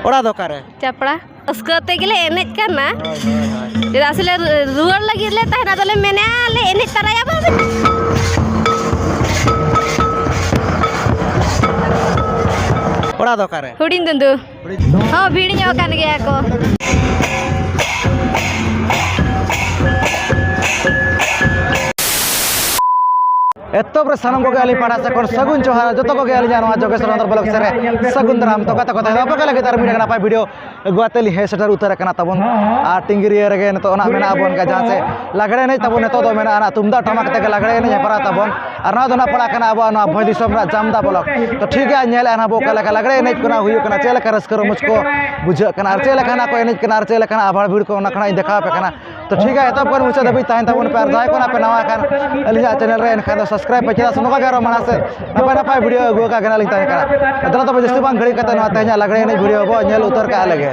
ᱚᱲᱟᱜ ᱫᱚ ᱚᱠᱟᱨᱮ ᱪᱟᱯᱲᱟ ᱨᱟᱹᱥᱠᱟᱹ ᱛᱮᱜᱮᱞᱮ ᱮᱱᱮᱡ ᱠᱟᱱᱟ ᱪᱮᱫᱟᱜ ᱥᱮ ᱞᱮ ᱨᱩᱣᱟᱹᱲ ᱞᱟᱹᱜᱤᱫ ᱞᱮ ᱛᱟᱦᱮᱱᱟ ᱟᱫᱚᱞᱮ ᱢᱮᱱᱮᱜᱼᱟ ᱞᱮ ᱮᱱᱮᱡ ᱛᱟᱨᱟᱭᱟ ᱵᱟᱝ ᱚᱲᱟᱜ ᱫᱚ ᱚᱠᱟᱨᱮ ᱦᱩᱰᱤᱧ ᱫᱩᱸᱫᱩ Oh, bini nyawa kan ya aku. ᱮᱛᱚᱵ ᱨᱮ ᱥᱟᱱᱟᱢ ᱠᱚᱜᱮ ᱟᱹᱞᱤᱧ ᱯᱟᱲᱟ ᱥᱮᱫ ᱠᱷᱚᱱ ᱥᱟᱹᱜᱩᱱ ᱡᱚᱦᱟᱨ ᱡᱚᱛᱚ ᱠᱚᱜᱮ ᱟᱹᱞᱤᱧᱟᱜ ᱱᱚᱣᱟ ᱡᱚᱜᱮᱥ ᱨᱚᱱᱫᱚᱨ ᱵᱞᱚᱜ ᱥᱮᱫ ᱨᱮ ᱥᱟᱹᱜᱩᱱ ᱫᱟᱨᱟᱢ ᱛᱚ ᱠᱟᱛᱷᱟ ᱠᱟᱛᱷᱟ ᱟᱯᱮ ᱠᱚ ᱞᱟᱹᱜᱤᱫ ᱟᱨ ᱢᱤᱫᱴᱟᱝ ᱱᱟᱯᱟᱭ ᱵᱷᱤᱰᱤᱭᱳ ᱟᱹᱜᱩ ᱟᱛᱮ ᱞᱤᱧ ᱦᱮᱡ ᱥᱮᱴᱮᱨ ᱩᱛᱟᱹᱨ ᱟᱠᱟᱱᱟ ᱛᱟᱵᱚᱱ ᱟᱨ ᱴᱤᱝᱜᱤᱨᱤᱭᱟᱹ ᱨᱮᱜᱮ ᱱᱤᱛᱚᱜ ᱚᱱᱟ ᱢᱮᱱᱟᱜᱼᱟ ᱵᱚᱱ ᱡᱟᱦᱟᱸ ᱥᱮ ᱞᱟᱜᱽᱲᱮ ᱮᱱᱮᱡ ᱛᱟᱵᱚᱱ ᱱᱤᱛᱚᱜ ᱫᱚ ᱢᱮᱱᱟᱜᱼᱟ ᱛᱩᱢᱫᱟᱜ ᱴᱟᱢᱟᱠ ᱛᱮᱜᱮ ᱞᱟᱜᱽᱲᱮ ᱮᱱᱮᱡ ᱦᱮᱯᱨᱟᱣ ᱛᱟᱵᱚᱱ ᱟᱨ ᱱᱚᱣᱟ ᱫᱚ ᱱᱟᱜ ᱯᱟᱲᱟᱜ ᱠᱟᱱᱟ ᱟᱵᱚᱣᱟᱜ ᱱᱚᱣᱟ ᱵᱷᱚᱸᱡᱽ ᱫᱤᱥᱚᱢ ᱨᱮᱱᱟᱜ ᱪᱟᱢᱫᱟ ᱵᱞᱚᱠ ᱛᱚ ᱴᱷᱤᱠ ᱜᱮᱭᱟ ᱧᱮᱞ ᱮᱫᱟ ᱟᱵᱚ ᱚᱠᱟ ᱞᱮᱠᱟ ᱞᱟᱜᱽᱲᱮ ᱮᱱᱮᱡ ᱠᱚ ᱦᱩᱭᱩᱜ ᱠᱟᱱᱟ ᱪᱮᱫ ᱞᱮᱠᱟ ᱨᱟᱹᱥᱠᱟᱹ ᱨᱚᱢᱚᱡᱽ ᱠᱚ ᱵᱩᱡᱷᱟᱹᱜ ᱠᱟᱱᱟ ᱟᱨ ᱪᱮᱫ ᱞᱮᱠᱟᱱᱟᱜ ᱠᱚ ᱮᱱᱮᱡ ᱠᱟᱱᱟ ᱟᱨ ᱪᱮᱫ ᱞᱮᱠᱟᱱᱟᱜ ᱟᱵᱷᱟᱲ ᱵᱷᱤᱲ ᱠᱚ ᱚᱱᱟ ᱠᱷᱚᱱᱟᱜ ᱤᱧ ᱫᱮᱠᱷᱟᱣ ᱟᱯᱮ ᱠᱟᱱᱟ ᱛᱚ ᱴᱷᱤᱠ ᱜᱮᱭᱟ ᱮᱛᱚᱦᱚᱵ ᱠᱷᱚᱱ ᱢᱩᱪᱟᱹᱫ ᱫᱷᱟᱹᱵᱤᱡ ᱛᱟᱦᱮᱱ ᱛᱟᱵᱚᱱ ᱯᱮ ᱟᱨ ᱡᱟᱦᱟᱸᱭ ᱠᱚ ᱱᱟᱜ ᱯᱮ ᱱᱟᱣᱟ ᱠᱷᱟᱱ ᱟᱹᱞᱤᱧᱟᱜ ᱪᱮᱱᱮᱞ ᱨᱮ ᱮᱱᱠᱷᱟᱱ ᱫᱚ ᱥᱟᱵᱥᱠᱨᱟᱭᱤᱵ ᱯᱮ ᱪᱮᱫᱟᱜ ᱥᱮ ᱱᱚᱝᱠᱟ ᱜᱮ ᱟᱨᱚ ᱢᱟᱲᱟᱝ ᱥᱮᱫ ᱱᱟᱯᱟᱭ ᱱᱟᱯᱟᱭ ᱵᱷᱤᱰᱤᱭᱳ ᱟᱹᱜᱩ ᱟᱠᱟᱫ ᱜᱮ ᱱᱟᱜ ᱞᱤᱧ ᱛᱟᱦᱮᱸ ᱠᱟᱱᱟ ᱟᱫᱚ ᱛᱚᱵᱮ ᱡᱟᱹᱥᱛᱤ ᱵᱟᱝ ᱜᱷᱟᱹᱲᱤᱡ ᱠᱟᱛᱮ ᱱᱚᱣᱟ ᱛᱮᱦᱮᱧᱟᱜ ᱞᱟᱜᱽᱲᱮ ᱮᱱᱮᱡ ᱵᱷᱤᱰᱤᱭᱳ ᱵᱚ ᱧᱮᱞ ᱩᱛᱟᱹᱨ ᱠᱟᱜ ᱞᱮᱜᱮ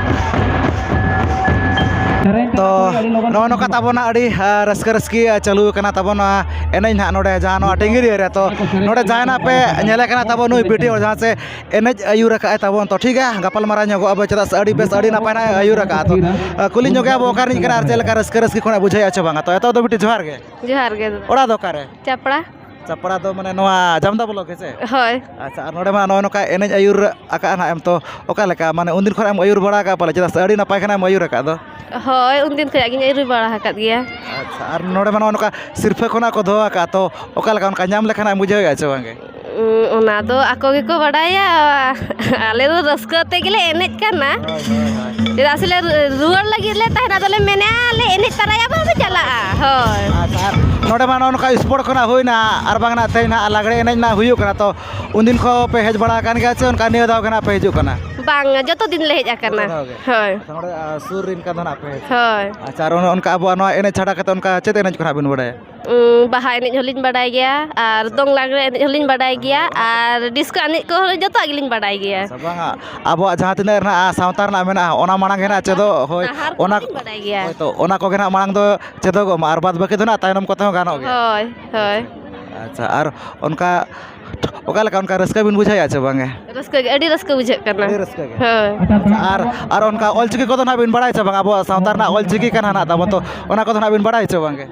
ᱛᱚ ᱱᱚᱜᱼᱚ ᱱᱚᱝᱠᱟ ᱛᱟᱵᱚᱱᱟ ᱟᱹᱰᱤ ᱨᱟᱹᱥᱠᱟᱹ ᱨᱟᱹᱥᱠᱤ ᱪᱟᱹᱞᱩ ᱠᱟᱱᱟ ᱛᱟᱵᱚᱱᱟ ᱮᱱᱮᱡ ᱱᱟᱦᱟᱜ ᱱᱚᱰᱮ ᱡᱟᱦᱟᱸ ᱱᱚᱣᱟ ᱴᱤᱝᱜᱤᱨᱤᱭᱟᱹ ᱨᱮ ᱛᱚ ᱱᱚᱰᱮ ᱡᱟᱦᱟᱸᱭ ᱱᱟᱦᱟᱜ ᱯᱮ ᱧᱮᱞᱮ ᱠᱟᱱᱟ ᱛᱟᱵᱚᱱ ᱱᱩᱭ ᱵᱤᱴᱤ ᱦᱚᱲ ᱡᱟᱦᱟᱸ ᱥᱮ ᱮᱱᱮᱡ ᱟᱹᱭᱩᱨ ᱠᱟᱜᱼᱟᱭ ᱛᱟᱵᱚᱱ ᱛᱚ ᱴᱷᱤᱠ ᱜᱮᱭᱟ ᱜᱟᱯᱟᱞᱢᱟᱨᱟᱣ ᱧᱚᱜᱚᱜ ᱟᱵᱚᱱ ᱪᱮᱫᱟᱜ ᱥᱮ ᱟᱹᱰᱤ ᱵᱮᱥ ᱟᱹᱰᱤ ᱱᱟᱯᱟᱭ ᱱᱟᱦᱟᱜ ᱮ ᱟᱹᱭᱩᱨ ᱠᱟᱜᱼᱟ ᱛᱚ ᱠᱩᱞᱤ ᱧᱚᱜᱮᱭᱟ ᱵᱚᱱ ᱚᱠᱟ ᱨᱤᱱᱤᱡ ᱠᱟᱱᱟᱭ ᱟᱨ ᱪᱮᱫ ᱞᱮᱠᱟ ᱨᱟᱹᱥᱠᱟᱹ ᱨᱟᱹᱥᱠᱤ ᱠᱷᱚᱱᱟᱜ ᱵᱩᱡᱷᱟᱹᱣᱮᱫᱼᱟ ᱥᱮ ᱵᱟᱝᱟ ᱛᱚ ᱮᱛᱚᱦᱚᱵ ᱫᱚ ᱵᱤᱴᱤ ᱡᱚᱦᱟᱨ ᱜᱮ ᱡᱚᱦᱟᱨ ᱜᱮ ᱫᱟᱫᱟ ᱚᱲᱟᱜ ᱫᱚ ᱚᱠᱟᱨᱮ ᱪᱟᱯᱲᱟ ᱪᱟᱯᱲᱟ ᱫᱚ ᱢᱟᱱᱮ ᱱᱚᱣᱟ ᱡᱟᱢᱫᱟ ᱵᱞᱚᱠ ᱦᱮᱸ ᱥᱮ ᱦᱳᱭ ᱟᱪᱪᱷᱟ ᱟᱨ ᱱᱚᱰᱮ ᱢᱟ ᱱᱚᱜᱼᱚᱭ ᱱᱚᱝᱠᱟ ᱮᱱᱮᱡ ᱟᱹᱭᱩᱨ ᱟᱠᱟᱫᱼᱟ ᱱᱟᱦᱟᱜ ᱮᱢ ᱛᱚ ᱚᱠᱟ ᱞᱮᱠᱟ ᱢᱟᱱᱮ ᱩᱱ ᱫᱤᱱ ᱠᱷᱚᱱᱟᱜ ᱮᱢ ᱟᱹᱭᱩᱨ ᱵᱟᱲᱟ ᱟᱠᱟᱫᱼᱟ ᱯᱟᱞᱮ ᱪᱮᱫᱟᱜ ᱥᱮ ᱟᱹᱰᱤ ᱱᱟᱯᱟᱭ ᱠᱷᱟᱱᱮᱢ ᱟᱹᱭᱩᱨ ᱟᱠᱟᱫ ᱫᱚ ᱦᱳᱭ ᱩᱱ ᱫᱤᱱ ᱠᱷᱚᱱᱟᱜ ᱜᱤᱧ ᱟᱹᱭᱩᱨ ᱵᱟᱲᱟ ᱟᱠᱟᱫ ᱜᱮᱭᱟ ᱟᱪᱪᱷᱟ ᱟᱨ ᱱᱚᱰᱮ ᱢᱟ ᱱᱚᱜᱼᱚᱭ ᱱᱚᱝᱠᱟ ᱥᱤᱨᱯᱟᱹ ᱠᱚ ᱱᱟᱦᱟᱜ ᱠᱚ ᱫᱚᱦᱚ ᱟᱠᱟᱫᱼᱟ ᱛᱚ ᱚᱠᱟ ᱞᱮᱠᱟ ᱚᱱᱠᱟ ᱧᱟᱢ ᱞᱮᱠᱷᱟᱱ ᱮᱢ ᱵᱩᱡᱷᱟᱹᱣ ᱮᱫᱼᱟ ᱥᱮ ᱵᱟᱝ ᱜᱮ ᱚᱱᱟ ᱫᱚ ᱟᱠᱚ ᱜᱮᱠᱚ ᱵᱟᱰᱟᱭᱟ ᱟᱞᱮ ᱫᱚ ᱨᱟᱹᱥᱠᱟᱹ ᱛᱮᱜᱮᱞᱮ ᱮᱱᱮᱡ ᱠᱟᱱᱟ ᱪᱮᱫᱟᱜ ᱥᱮᱞᱮ ᱨᱩᱣᱟᱹᱲ ᱞᱟᱹᱜᱤᱫ ᱞᱮ ᱛᱟᱦᱮᱱᱟ ᱟᱫᱚᱞᱮ ᱢᱮᱱᱮᱜᱼᱟ ᱞᱮ ᱮᱱᱮᱡ ᱛᱟᱨᱟᱭᱟ ᱵᱟᱝ ᱞᱮ ᱪᱟᱞᱟᱜᱼᱟ ᱦᱳᱭ ᱟᱪᱪᱷᱟ ᱟᱨ ᱱᱚᱰᱮ ᱢᱟ ᱱᱚᱜᱼᱚ ᱱᱚᱝᱠᱟ ᱥᱯᱳᱨᱴ ᱠᱷᱚᱱᱟᱜ ᱦᱩᱭᱱᱟ ᱟᱨ ᱵᱟᱝ ᱱᱟᱜ ᱛᱮᱦᱮᱧ ᱱᱟᱜ ᱞᱟᱜᱽᱬᱮ ᱮᱱᱮᱡ ᱱᱟᱜ ᱦᱩᱭᱩᱜ ᱠᱟᱱᱟ ᱛᱚ ᱩᱱᱫᱤᱱ ᱠᱷᱚᱱ ᱯᱮ ᱦᱮᱡ ᱵᱟᱲᱟ ᱟᱠᱟᱱ ᱜᱮᱭᱟ ᱥᱮ ᱚᱱᱠᱟ ᱱᱤᱭᱟᱹ ᱫᱷᱟᱣ ᱜᱮ ᱱᱟᱜ ᱯᱮ ᱦᱤᱡᱩᱜ ᱠᱟᱱᱟ ᱵᱟᱝᱟ ᱡᱚᱛᱚ ᱫᱤᱱ ᱞᱮ ᱦᱮᱡ ᱟᱠᱟᱱᱟ ᱡᱚᱛᱚ ᱫᱷᱟᱣ ᱜᱮ? ᱦᱳᱭ ᱟᱪᱪᱷᱟ ᱱᱚᱰᱮ ᱥᱩᱨ ᱨᱮᱱ ᱠᱟᱱ ᱫᱚ ᱱᱟᱜ ᱯᱮ ᱦᱮᱡ ᱦᱳᱭ ᱟᱪᱪᱷᱟ ᱟᱨ ᱚᱱᱮ ᱚᱱᱠᱟ ᱟᱵᱚᱣᱟᱜ ᱱᱚᱣᱟ ᱮᱱᱮᱡ ᱪᱷᱟᱰᱟ ᱠᱟᱛᱮᱫ ᱚᱱᱠᱟ ᱪᱮᱫ ᱮᱱᱮᱡ ᱠᱚ ᱱᱟᱜ ᱵᱤᱱ ᱵᱟᱲᱟᱭᱟ ᱵᱟᱦᱟ ᱮᱱᱮᱡ ᱦᱚᱸᱞᱤᱧ ᱵᱟᱰᱟᱭ ᱜᱮᱭᱟ ᱟᱨ ᱫᱚᱝ ᱞᱟᱜᱽᱬᱮ ᱮᱱᱮᱡ ᱦᱚᱸᱞᱤᱧ ᱵᱟᱰᱟᱭ ᱜᱮᱭᱟ ᱟᱨ ᱰᱤᱥᱠᱳ ᱮᱱᱮᱡ ᱠᱚᱦᱚᱸ ᱡᱚᱛᱚᱣᱟᱜ ᱜᱮᱞᱤᱧ ᱵᱟᱰᱟᱭ ᱜᱮᱭᱟ ᱟᱵᱚᱣᱟᱜ ᱡᱟᱦᱟᱸ ᱛᱤᱱᱟᱹᱜ ᱨᱮᱱᱟᱜ ᱥᱟᱶᱛᱟ ᱨᱮᱱᱟᱜ ᱢᱮᱱᱟᱜᱼᱟ ᱚᱱᱟ ᱢᱟᱲᱟᱝ ᱜᱮ ᱦᱟᱸᱜ ᱪᱮᱫᱚᱜ ᱦᱳᱭ ᱚᱱᱟ ᱚᱱᱟ ᱠᱚᱜᱮ ᱦᱟᱸᱜ ᱢᱟᱲᱟᱝ ᱫᱚ ᱪᱮᱫᱚᱜᱚᱜ ᱢᱟ ᱟᱨ ᱵᱟᱫ ᱵᱟᱹᱠᱤ ᱫᱚ ᱦᱟᱸᱜ ᱛᱟᱭᱱᱚᱢ ᱠᱚᱛᱮ ᱦᱚᱸ ᱜᱟᱱᱚᱜ ᱜᱮᱭᱟ ᱦᱳᱭ ᱦᱳᱭ ᱟᱪᱪᱷᱟ ᱟᱨ ᱚᱱᱠᱟ ᱚᱠᱟ ᱞᱮᱠᱟ ᱚᱱᱠᱟ ᱨᱟᱹᱥᱠᱟᱹ ᱵᱤᱱ ᱵᱩᱡᱷᱟᱹᱣᱮᱜᱼᱟ ᱥᱮ ᱵᱟᱝ ᱜᱮ ᱨᱟᱹᱥᱠᱟᱹ ᱜᱮ ᱟᱹᱰᱤ ᱨᱟᱹᱥᱠᱟᱹ ᱵᱩᱡᱷᱟᱹᱜ ᱠᱟᱱᱟ ᱟᱹᱰᱤ ᱨᱟᱹᱥᱠᱟᱹ ᱜᱮ ᱦᱳᱭ ᱟᱨ ᱟᱨ ᱚᱱᱠᱟ ᱚᱞ ᱪᱤᱠᱤ ᱠᱚᱫᱚ ᱦᱟᱸᱜ ᱵᱤᱱ ᱵᱟᱲᱟᱭᱟ ᱥᱮ ᱵᱟᱝ ᱟᱵᱚᱣᱟᱜ ᱥᱟᱶᱛᱟ ᱨᱮᱱᱟᱜ ᱚᱞ ᱪᱤᱠᱤ ᱠᱟᱱᱟ ᱦᱟᱸᱜ ᱛᱟᱵᱚᱱ ᱛᱚ ᱚᱱᱟ ᱠᱚᱫᱚ ᱦᱟᱸᱜ ᱵᱤᱱ ᱵᱟᱲᱟᱭᱟ ᱥᱮ ᱵᱟᱝ ᱜᱮ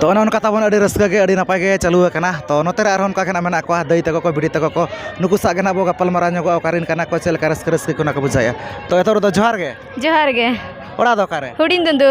ᱛᱚ ᱚᱱᱮ ᱚᱱᱠᱟ ᱛᱟᱵᱚᱱ ᱟᱹᱰᱤ ᱨᱟᱹᱥᱠᱟᱹ ᱜᱮ ᱟᱹᱰᱤ ᱱᱟᱯᱟᱭ ᱜᱮ ᱪᱟᱹᱞᱩ ᱟᱠᱟᱱᱟ ᱛᱚ ᱱᱚᱛᱮ ᱨᱮ ᱟᱨᱦᱚᱸ ᱚᱱᱠᱟ ᱜᱮ ᱦᱟᱸᱜ ᱢᱮᱱᱟᱜ ᱠᱚᱣᱟ ᱫᱟᱹᱭ ᱛᱟᱠᱚ ᱠᱚ ᱵᱩᱰᱷᱤ ᱛᱟᱠᱚ ᱠᱚ ᱱᱩᱠᱩ ᱥᱟᱶ ᱜᱮ ᱦᱟᱸᱜ ᱵᱚᱱ ᱜᱟᱯᱟᱞᱢᱟᱨᱟᱣ ᱧᱚᱜᱚᱜᱼᱟ ᱚᱠᱟ ᱨᱮᱱ ᱠᱟᱱᱟ ᱠᱚ ᱪᱮᱫ ᱞᱮᱠᱟ ᱨᱟᱹᱥᱠᱟᱹ ᱨᱟᱹᱥᱠᱤ ᱠᱚ ᱚᱱᱟ ᱠᱚ ᱵᱩᱡᱷᱟᱹᱣᱮᱜᱼᱟ ᱛᱚ ᱮᱛᱚᱦᱚᱵ ᱨᱮᱫᱚ ᱡᱚᱦᱟᱨ ᱜᱮ ᱡᱚᱦᱟᱨ ᱜᱮ ᱚᱲᱟᱜ ᱫᱚ ᱚᱠᱟᱨᱮ ᱦᱩᱰᱤᱧ ᱫᱩᱸᱫᱩ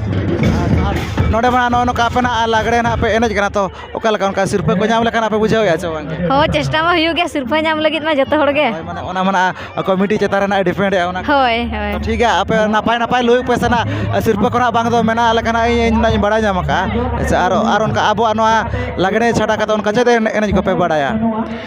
ᱱᱚᱰᱮ ᱢᱟ ᱱᱚᱜᱼᱚᱸᱭ ᱱᱚᱝᱠᱟ ᱟᱯᱮ ᱱᱟᱦᱟᱜ ᱞᱟᱜᱽᱲᱮ ᱱᱟᱦᱟᱜ ᱯᱮ ᱮᱱᱮᱡ ᱠᱟᱱᱟ ᱛᱚ ᱚᱠᱟ ᱞᱮᱠᱟ ᱚᱱᱠᱟ ᱥᱤᱨᱯᱟᱹ ᱠᱚ ᱧᱟᱢ ᱞᱮᱠᱷᱟᱱ ᱟᱯᱮ ᱵᱩᱡᱷᱟᱹᱣᱮᱜᱼᱟ ᱥᱮ ᱵᱟᱝ ᱦᱳᱭ ᱪᱮᱥᱴᱟ ᱢᱟ ᱦᱩᱭᱩᱜ ᱜᱮᱭᱟ ᱥᱤᱨᱯᱟᱹ ᱧᱟᱢ ᱞᱟᱹᱜᱤᱫ ᱢᱟ ᱡᱚᱛᱚ ᱦᱚᱲᱜᱮ ᱦᱳᱭ ᱢᱟᱱᱮ ᱚᱱᱟ ᱢᱟ ᱱᱟᱦᱟᱜ ᱠᱚᱢᱤᱴᱤ ᱪᱮᱛᱟᱱ ᱨᱮ ᱱᱟᱦᱟᱜ ᱰᱤᱯᱮᱱᱰᱮᱜᱼᱟ ᱚᱱᱟ ᱠᱚ ᱦᱳᱭ ᱦᱳᱭ ᱴᱷᱤᱠ ᱜᱮᱭᱟ ᱟᱯᱮ ᱱᱟᱯᱟᱭ ᱱᱟᱯᱟᱭ ᱞᱩᱭᱩᱜ ᱯᱮ ᱥᱮ ᱱᱟᱦᱟᱜ ᱥᱤᱨᱯᱟᱹ ᱠᱚ ᱱᱟᱦᱟᱜ ᱵᱟᱝ ᱫᱚ ᱢᱮᱱᱟᱜᱼᱟ ᱞᱮᱠᱟ ᱱᱟᱦᱟᱜ ᱤᱧ ᱱᱟᱦᱟᱜ ᱤᱧ ᱵᱟᱲᱟᱭ ᱧᱟᱢ ᱠᱟᱜᱼᱟ ᱟᱪᱪᱷᱟ ᱟᱨ ᱚᱱᱠᱟ ᱟᱵᱚᱣᱟᱜ ᱱᱚᱣᱟ ᱞᱟᱜᱽᱲᱮ ᱪᱷᱟᱰᱟ ᱠᱟᱛᱮᱫ ᱚᱱᱠᱟ ᱪᱮᱫ ᱮᱱᱮᱡ ᱠᱚᱯᱮ ᱵᱟᱲᱟᱭᱟ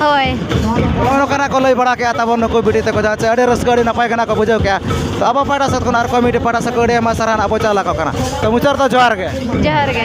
ᱦᱳᱭ ᱱᱚᱜᱼᱚ ᱱᱚᱝᱠᱟᱱᱟᱜ ᱠᱚ ᱞᱟᱹᱭ ᱵᱟᱲᱟ ᱠᱮᱜᱼᱟ ᱛᱟᱵᱚᱱ ᱱᱩᱠᱩ ᱵᱤᱴᱤ ᱛᱟᱠᱚ ᱡᱟᱦᱟᱸ ᱪᱮ ᱟᱹᱰᱤ ᱨᱟᱹᱥᱠᱟᱹ ᱟᱹᱰᱤ ᱱᱟᱯᱟᱭ ᱜᱮ ᱱᱟᱜ ᱠᱚ ᱵᱩᱡᱷᱟᱹᱣ ᱠᱮᱜᱼᱟ ᱛᱚ ᱟᱵᱚ ᱯᱟᱦᱴᱟ ᱥᱮᱫ ᱠᱷᱚᱱ ᱟᱨ ᱠᱚᱢᱤᱴᱤ ᱯᱟᱦᱴᱟ ᱥᱮᱫ ᱠᱷᱚᱱ ᱟᱹᱰᱤ ᱟᱭᱢᱟ ᱥᱟᱨᱦᱟᱣ ᱱᱟᱜ ᱵᱚᱱ ᱪᱟᱞ ᱟᱠᱚ ᱠᱟᱱᱟ ᱛᱚ ᱢᱩᱪᱟᱹᱫ ᱨᱮᱫᱚ ᱡᱚᱦᱟᱨ ᱜᱮ ᱡᱚᱦᱟᱨ ᱜᱮ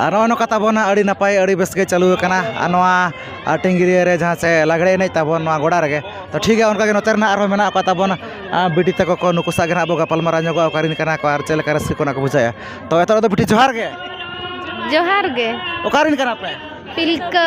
ᱟᱨ ᱱᱚᱜᱼᱚᱭ ᱱᱚᱝᱠᱟ ᱛᱟᱵᱚᱱ ᱟᱹᱰᱤ ᱱᱟᱯᱟᱭ ᱟᱹᱰᱤ ᱵᱮᱥ ᱜᱮ ᱪᱟᱹᱞᱩ ᱟᱠᱟᱱᱟ ᱟᱨ ᱱᱚᱣᱟ ᱟᱹᱴᱤᱝᱜᱤᱨᱟᱹ ᱨᱮ ᱡᱟᱦᱟᱸ ᱥᱮ ᱞᱟᱜᱽᱲᱮ ᱮᱱᱮᱡ ᱛᱟᱵᱚᱱ ᱱᱚᱣᱟ ᱜᱚᱰᱟ ᱨᱮᱜᱮ ᱛᱚ ᱴᱷᱤᱠ ᱜᱮᱭᱟ ᱚᱱᱠᱟ ᱜᱮ ᱱᱚᱛᱮ ᱨᱮᱱᱟᱜ ᱟᱨᱦᱚᱸ ᱢᱮᱱᱟᱜ ᱠᱚ ᱛᱟᱵᱚᱱᱟ ᱵᱤᱴᱤ ᱛᱟᱠᱚ ᱠᱚ ᱱᱩᱠᱩ ᱥᱟᱶ ᱜᱮ ᱦᱟᱸᱜ ᱵᱚᱱ ᱜᱟᱯᱟᱞᱢᱟᱨᱟᱣ ᱧᱚᱜᱚᱜᱼᱟ ᱚᱠᱟ ᱨᱮᱱ ᱠᱟᱱᱟ ᱠᱚ ᱟᱨ ᱪᱮᱫ ᱞᱮᱠᱟ ᱨᱟᱹᱥᱠᱟᱹ ᱠᱚ ᱚᱱᱟ ᱠᱚ ᱵᱩᱡᱷᱟᱹᱜᱼᱟ ᱛᱚ ᱱᱤᱛᱚᱜ ᱫᱚ ᱵᱤᱴᱤ ᱡᱚᱦᱟᱨ ᱜᱮ ᱡᱚᱦᱟᱨ ᱜᱮ ᱚᱠᱟ ᱨᱮᱱ ᱠᱟᱱᱟ ᱯᱮ ᱛᱤᱞᱠᱟᱹ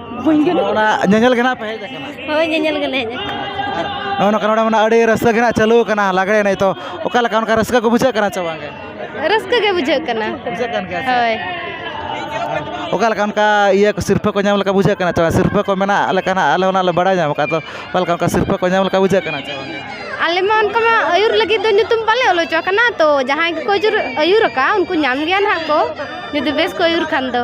ᱚᱱᱟ ᱧᱮᱧᱮᱞ ᱜᱮ ᱱᱟᱦᱟᱜ ᱯᱮ ᱦᱮᱡ ᱟᱠᱟᱱᱟ ᱦᱳᱭ ᱧᱮᱧᱮᱞ ᱜᱮᱞᱮ ᱦᱮᱡ ᱟᱠᱟᱱᱟ ᱱᱚᱜᱼᱚ ᱱᱚᱝᱠᱟ ᱱᱚᱰᱮ ᱢᱟᱱᱮ ᱟᱹᱰᱤ ᱨᱟᱹᱥᱠᱟᱹ ᱜᱮ ᱱᱟᱦᱟᱜ ᱪᱟᱹᱞᱩ ᱟᱠᱟᱱᱟ ᱞᱟᱜᱽᱲᱮ ᱮᱱᱮᱡ ᱛᱚ ᱚᱠᱟ ᱞᱮᱠᱟ ᱚᱱᱠᱟ ᱨᱟᱹᱥᱠᱟᱹ ᱠᱚ ᱵᱩᱡᱷᱟᱹᱜ ᱠᱟᱱᱟ ᱥᱮ ᱵᱟᱝᱜᱮ ᱨᱟᱹᱥᱠᱟᱹ ᱜᱮ ᱵᱩᱡᱷᱟᱹᱜ ᱠᱟᱱᱟ ᱵᱩᱡᱷᱟᱹᱜ ᱠᱟᱱ ᱜᱮᱭᱟ ᱥᱮ? ᱦᱳᱭ ᱚᱠᱟ ᱞᱮᱠᱟ ᱚᱱᱠᱟ ᱤᱭᱟᱹ ᱠᱚ ᱥᱤᱨᱯᱟᱹ ᱠᱚ ᱧᱟᱢ ᱞᱮᱠᱟ ᱵᱩᱡᱷᱟᱹᱜ ᱠᱟᱱᱟ ᱥᱮ ᱵᱟᱝ ᱥᱤᱨᱯᱟᱹ ᱠᱚ ᱢᱮᱱᱟᱜ ᱞᱮᱠᱟ ᱱᱟᱦᱟᱜ ᱟᱞᱮ ᱦᱚᱸ ᱱᱟᱦᱟᱜ ᱞᱮ ᱵᱟᱲᱟᱭ ᱧᱟᱢ ᱟᱠᱟᱫ ᱛᱚ ᱚᱠᱟ ᱞᱮᱠᱟ ᱚᱱᱠᱟ ᱥᱤᱨᱯᱟᱹ ᱠᱚ ᱧᱟᱢ ᱞᱮᱠᱟ ᱵᱩᱡᱷᱟᱹᱜ ᱠᱟᱱᱟ ᱥᱮ ᱵᱟᱝᱜᱮ ᱟᱞᱮ ᱢᱟ ᱚᱱᱠᱟ ᱢᱟ ᱟᱹᱭᱩᱨ ᱞᱟᱹᱜᱤᱫ ᱫᱚ ᱧᱩᱛᱩᱢ ᱵᱟᱞᱮ ᱚᱞ ᱦᱚᱪᱚ ᱟᱠᱟᱱᱟ ᱛᱚ ᱡᱟᱦᱟᱸᱭ ᱜᱮᱠᱚ ᱟᱹᱭᱩᱨ ᱟᱹᱭᱩᱨ ᱟᱠᱟᱫ ᱩᱱᱠᱩ ᱧᱟᱢ ᱜᱮᱭᱟ ᱱᱟᱦᱟᱜ ᱠᱚ ᱡᱩᱫᱤ ᱵᱮᱥ ᱠᱚ ᱟᱹᱭᱩᱨ ᱠᱷᱟᱱ ᱫᱚ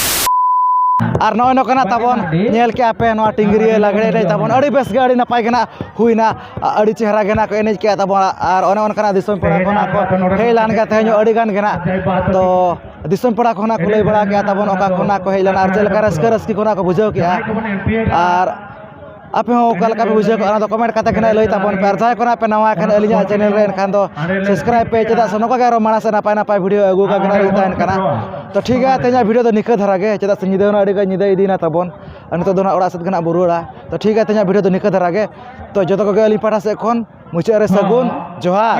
ᱟᱨ ᱱᱚᱜᱼᱚᱭ ᱱᱚᱝᱠᱟᱱᱟᱜ ᱛᱟᱵᱚᱱ ᱧᱮᱞ ᱠᱮᱜᱼᱟ ᱯᱮ ᱱᱚᱣᱟ ᱴᱤᱝᱨᱤᱭᱟᱹ ᱞᱟᱜᱽᱬᱮ ᱮᱱᱮᱡ ᱛᱟᱵᱚᱱ ᱟᱹᱰᱤ ᱵᱮᱥ ᱜᱮ ᱟᱹᱰᱤ ᱱᱟᱯᱟᱭ ᱜᱮ ᱱᱟᱜ ᱦᱩᱭᱱᱟ ᱟᱹᱰᱤ ᱪᱮᱦᱨᱟ ᱜᱮ ᱱᱟᱜ ᱠᱚ ᱮᱱᱮᱡ ᱠᱮᱜᱼᱟ ᱛᱟᱵᱚᱱ ᱟᱨ ᱚᱱᱮ ᱚᱱᱠᱟᱱᱟᱜ ᱫᱤᱥᱚᱢ ᱯᱮᱲᱟ ᱠᱚ ᱱᱟᱜ ᱠᱚ ᱦᱮᱡ ᱞᱮᱱ ᱜᱮᱭᱟ ᱛᱮᱦᱮᱧ ᱦᱚᱸ ᱟᱹᱰᱤ ᱜᱟᱱ ᱜᱮ ᱱᱟᱜ ᱛᱚ ᱫᱤᱥᱚᱢ ᱯᱮᱲᱟ ᱠᱚ ᱦᱚᱸ ᱱᱟᱜ ᱠᱚ ᱞᱟᱹᱭ ᱵᱟᱲᱟ ᱠᱮᱜᱼᱟ ᱛᱟᱵᱚᱱ ᱚᱠᱟ ᱠᱷᱚᱱᱟᱜ ᱠᱚ ᱦᱮᱡ ᱞᱮᱱᱟ ᱟᱨ ᱪᱮᱫ ᱞᱮᱠᱟ ᱨᱟᱹᱥᱠᱟᱹ ᱨᱟᱹᱥᱠᱤ ᱠᱚ ᱱᱟᱜ ᱠᱚ ᱵᱩᱡᱷᱟᱹᱣ ᱠᱮᱜᱼᱟ ᱟᱨ ᱟᱯᱮ ᱦᱚᱸ ᱚᱠᱟ ᱞᱮᱠᱟ ᱯᱮ ᱵᱩᱡᱷᱟᱹᱣ ᱠᱮᱫᱼᱟ ᱚᱱᱟ ᱫᱚ ᱠᱚᱢᱮᱱᱴ ᱠᱟᱛᱮᱫ ᱱᱟᱦᱟᱜ ᱞᱟᱹᱭ ᱛᱟᱵᱚᱱ ᱯᱮ ᱟᱨ ᱡᱟᱦᱟᱸᱭ ᱠᱚ ᱱᱟᱦᱟᱜ ᱯᱮ ᱱᱟᱣᱟ ᱟᱠᱟᱱᱟ ᱟᱹᱞᱤᱧᱟᱜ ᱪᱮᱱᱮᱞ ᱨᱮ ᱮᱱᱠᱷᱟᱱ ᱫᱚ ᱥᱟᱵᱥᱠᱨᱟᱭᱤᱵᱽ ᱯᱮ ᱪᱮᱫᱟᱜ ᱥᱮ ᱱᱚᱝᱠᱟ ᱜᱮ ᱟᱨᱚ ᱢᱟᱲᱟᱝ ᱥᱮᱫ ᱱᱟᱯᱟᱭ ᱱᱟᱯᱟᱭ ᱵᱷᱤᱰᱭᱳ ᱟᱹᱜᱩ ᱟᱠᱟᱫ ᱵᱮᱱᱟ ᱞᱤᱧ ᱛᱟᱦᱮᱱ ᱠᱟᱱᱟ ᱛᱚ ᱴᱷᱤᱠ ᱜᱮᱭᱟ ᱛᱮᱦᱮᱧᱟᱜ ᱵᱷᱤᱰᱭᱳ ᱫᱚ ᱱᱤᱝᱠᱟᱹ ᱫᱷᱟᱨᱟ ᱜᱮ ᱪᱮᱫᱟᱜ ᱥᱮ ᱧᱤᱫᱟᱹ ᱦᱚᱸ ᱟᱹᱰᱤ ᱜᱟᱱ ᱧᱤᱫᱟᱹ ᱤᱫᱤᱭᱮᱱᱟ ᱛᱟᱵᱚᱱ ᱟᱨ ᱱᱤᱛᱚᱜ ᱫᱚ ᱱᱟᱦᱟᱜ ᱚᱲᱟᱜ ᱥᱮᱫ ᱜᱮ ᱱᱟᱦᱟᱜ ᱵᱚᱱ ᱨᱩᱣᱟᱹᱲᱟ ᱛᱚ ᱴᱷᱤᱠ ᱜᱮᱭᱟ ᱛᱮᱦᱮᱧᱟᱜ ᱵᱷᱤᱰᱭᱳ ᱫᱚ ᱱᱤᱝᱠᱟᱹ ᱫᱷᱟᱨᱟ ᱜᱮ ᱛᱚ ᱡᱚᱛᱚ ᱠᱚᱜᱮ ᱟᱹᱞᱤᱧ ᱯᱟᱦᱴᱟ ᱥᱮᱫ ᱠᱷᱚᱱ ᱢᱩᱪᱟᱹᱫ ᱨᱮ ᱥᱟᱹᱜᱩᱱ ᱡᱚᱦᱟᱨ